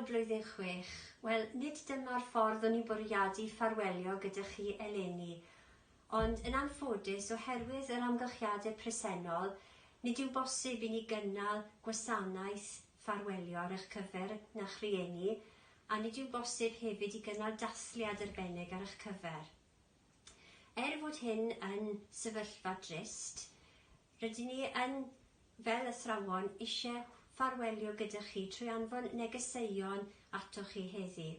blwyddyn chwech. Wel, nid dyma'r ffordd o'n i'n bwriadu ffarwelio gyda chi eleni. Ond yn anffodus, oherwydd yr amgylchiadau presennol, nid yw'n bosib i ni gynnal gwasanaeth ffarwelio ar eich cyfer na'ch rhieni, a nid yw'n bosib hefyd i gynnal dathliad arbennig ar eich cyfer. Er fod hyn yn sefyllfa drist, rydyn ni yn, fel athrawon, eisiau ffarwelio gyda chi trwy anfon negeseuon atoch chi heddi.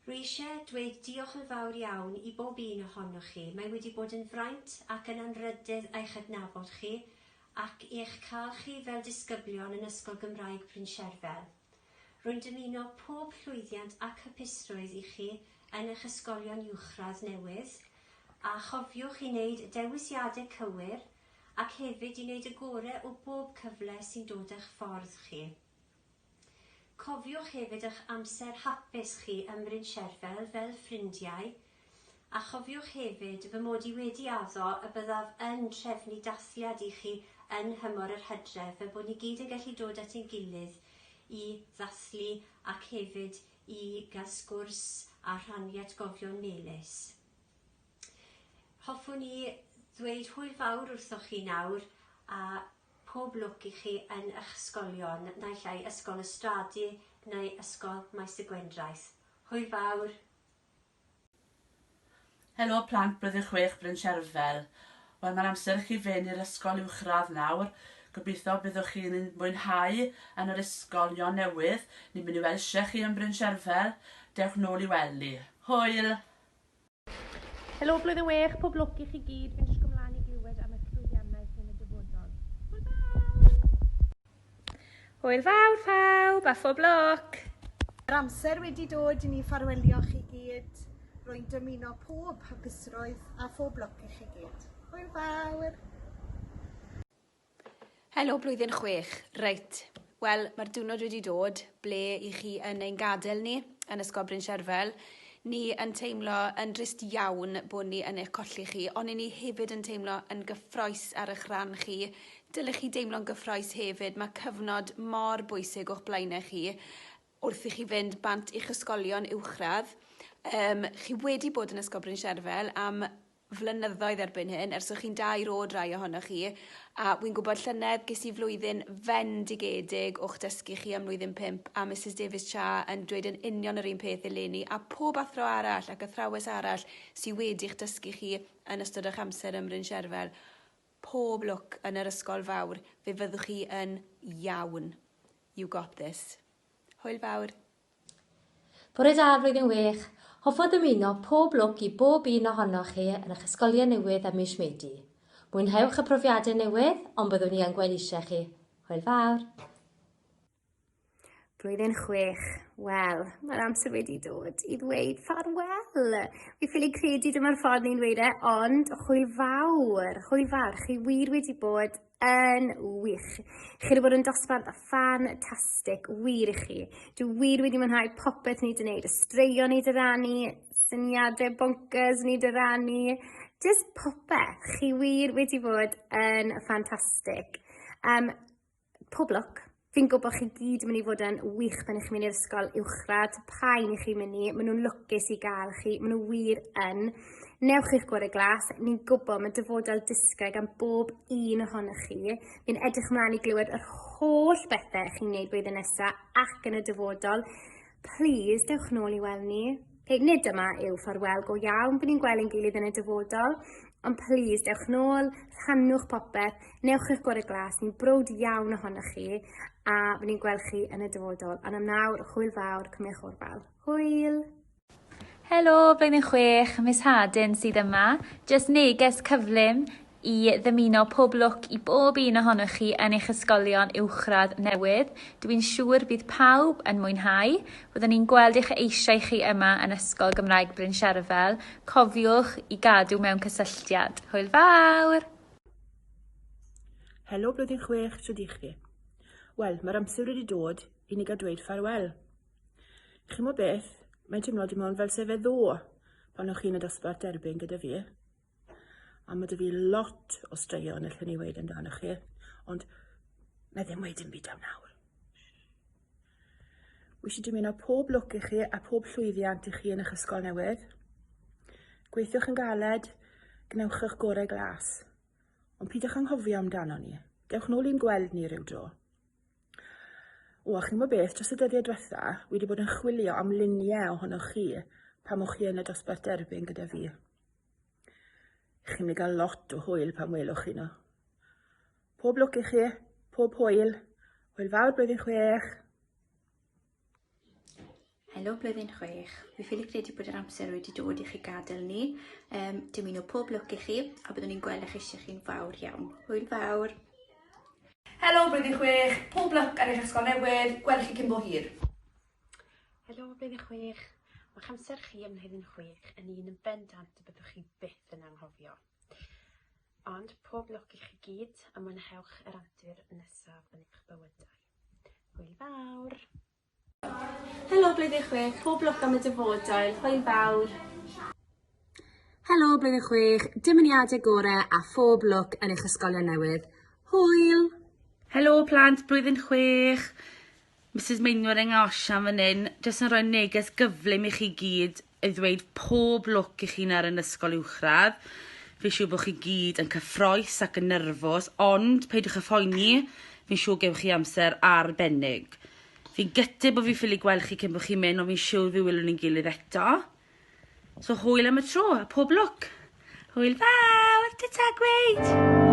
Rwy eisiau dweud diolch yn fawr iawn i bob un ohonoch chi, mae wedi bod yn fraint ac yn anrhydedd eich adnabod chi ac eich cael chi fel disgyblion yn Ysgol Gymraeg Bryncherfel. Rwy'n dymuno pob llwyddiant ac hapusrwydd i chi yn eich ysgolion uwchradd newydd, a chofiwch i wneud y dewisiadau cywir ac hefyd i wneud y gorau o bob cyfle sy'n dod â'ch ffordd chi. Cofiwch hefyd eich amser hapus chi ym Bryn Sherfel fel ffrindiau, a chofiwch hefyd fy mod i wedi addo y byddaf yn trefnu dathliad i chi yn nhymor yr hydref fel bod ni gyd yn gallu dod at ein gilydd i ddathlu ac hefyd i gael sgwrs a rhannu atgofion melys. Hoffwn i ddweud hwyl fawr wrthoch chi nawr a Pob lwc i chi yn ych ysgolion, naill ai Ysgol y Strade neu Ysgol Maes y Gwendraeth. Hwyl fawr! Helo plant Blwyddyn Chwech Bryn Sherfel. Wel mae'n amser i chi fyn i'r ysgol uwchradd nawr. Gobeitho byddwch chi yn yn mwynhau yn yr ysgol ion newydd. Ni'n mynd i welsie chi yn Bryn Sherfel. Dewch nôl i wely. Hwyl! Helo blwyddyn wech, pob lwc i chi gyd, fi'n disgwyl mlaen i glywed am eich llwyddiannaeth yn y dyfodol. Hwyl fawr! Hwyl fawr pawb a phob lwc! Yr amser wedi dod i ni ffarwelio chi gyd. Rwy'n dymuno pob hapusrwydd a phob lwc i chi gyd. Hwyl fawr! Helo blwyddyn chwech. Reit, wel, mae'r diwrnod wedi dod ble i chi yn ein gadael ni yn Ysgol Bryn Sherfel. Ni yn teimlo yn drist iawn bod ni yn eich colli chi, ond i ni hefyd yn teimlo yn gyffroes ar eich rhan chi. Dylech chi deimlo'n gyffroes hefyd, mae cyfnod mor bwysig o'ch blaenau chi wrth i chi fynd bant i'ch ysgolion uwchradd. Um, chi wedi bod yn Ysgol Bryn Sherfel am flynyddoedd erbyn hyn, ers o'ch chi'n dair o'd rai ohonoch chi, a wi'n gwybod llynedd ges i flwyddyn fendigedig o'ch dysgu chi am mlwyddyn pump a Misus Davies Cha yn dweud yn union yr un peth eleni a pob athro arall ac athrawes arall sy wedi'ch dysgu chi yn ystod o'ch amser ym Mryn Sherfel. Pob lwc yn yr ysgol fawr, fe fyddwch chi yn iawn. You got this. Hwyl fawr. Bore da a flwyddyn wych! Hoffo ddymuno pob lwc i bob un ohonoch chi yn eich ysgolion newydd ym mis Medi. Mwynhewch y profiadau newydd, ond byddwn i yn gwellisie chi. Hwyl fawr! Blwyddyn chwech. Wel, mae'r amser wedi dod i ddweud ffarwel! Fi ffili credu dyma'r ffordd ni'n dweud e, ond hwyl fawr, hwyl fawr. Chi wir wedi bod yn wych. Chi wedi bod yn dosbarth ffantastig, wir i chi. Dwi wir wedi mwynhau popeth ni wedi wneud, y straeon ni wedi rannu, syniadau bonkers ni wedi rannu, just popeth. Chi wir wedi bod yn ffantastig. Um, pob lwc Fi'n gwybod bod chi gyd yn mynd i fod yn wych pan ych chi'n mynd i'r ysgol uwchradd, pa'n i chi'n mynd i, maen nhw'n lwcus i gael chi, maen nhw wir yn. Newch chi'ch gwrdd y glas, ni'n gwybod mae dyfodol disgre gan bob un ohonych chi. Fi'n edrych ymlaen i glywed yr holl bethau chi'n gwneud blwyddyn nesaf ac yn y dyfodol. Please, dewch nôl i weld ni. Ok, nid dyma yw ffarwel go iawn, bydd ni'n gweld ein gilydd yn y dyfodol, ond please, dewch nôl, rhannwch popeth, newch eich gorau glas, ni'n brwd iawn ohonoch chi, a bydd ni'n gweld chi yn y dyfodol. Ond am nawr, hwyl fawr, cymwch o'r bel. Hwyl! Helo, blwyddyn chwech, mis Hadyn sydd yma. Jyst neges cyflym, i ddymuno pob lwc i bob un ohonoch chi yn eich ysgolion uwchradd newydd. Dw i'n siŵr bydd pawb yn mwynhau. Byddwn ni'n gweld eich eisiau chi yma yn Ysgol Gymraeg Bryn Sherfel. Cofiwch i gadw mewn cysylltiad. Hwyl fawr! Helo Blwyddyn Chwech, shwd i chi? Wel, mae'r amser wedi dod i ni gael dweud ffarwel. Chi'n mo beth, mae'n teimlo dim ond fel sefedd ddo pan o'ch chi'n y dosbarth derbyn gyda fi. A mae 'da fi lot o straeon allwn i weud amdano chi, ond na ddim weud dim byd am nawr. Wyt ti wedi mynd o pob lwc i chi a pob llwyddiant i chi yn eich ysgol newydd. Gweithiwch yn galed, gwnewch eich gorau glas. Ond pidwch anghofio amdano ni. Dewch nôl i'n gweld ni rhyw dro. O, a chi'n gwybod beth, dros y dyddiau diwetha, wedi bod yn chwilio am luniau ohonoch chi pan o'ch chi yn y dosbarth derbyn gyda fi. Chi'n mynd gael lot o hwyl pan welwch chi nhw. Pob lwc i chi, pob hwyl. Hwyl fawr blwyddyn chwech. Helo blwyddyn chwech. Fi ffili credu bod yr amser wedi dod i chi gadael ni. Um, dim un o pob lwc i chi a byddwn ni'n gweld eich eisiau chi'n fawr iawn. Hwyl fawr. Helo blwyddyn chwech. Pob lwc ar eich ysgol newydd. Gweld chi cyn bo hir. Helo, Blwyddyn Chwech! Mae'ch amser chi ym Mhlwyddyn Chwech yn un yn bendant y byddwch chi byth yn anghofio. Ond pob lwc i chi gyd a mwynhewch yr antur nesaf yn eich bywydau. Hwyl fawr! Helo, Blwyddyn Chwech! Pob lwc am y dyfodol. Hwyl fawr! Helo, Blwyddyn Chwech! Dymuniadau gorau a phob lwc yn eich ysgolion newydd. Hwyl! Helo, plant, Blwyddyn Chwech! Misus Meinwaring a Osian fan hyn, jyst yn rhoi neges gyflym i chi gyd i ddweud pob lwc i chi nawr yn ysgol uwchradd. Fi'n siŵr bod chi gyd yn cyffroes ac yn nyrfos, ond peidiwch â phoeni, fi'n siŵr gewch chi amser arbennig. Fi'n gytid bod fi'n ffili gweld chi cyn bod chi'n mynd, ond fi'n siŵr fi wylwn ni'n gilydd eto. So hwyl am y tro a pob lwc. Hwyl fawr, ta ta gweud!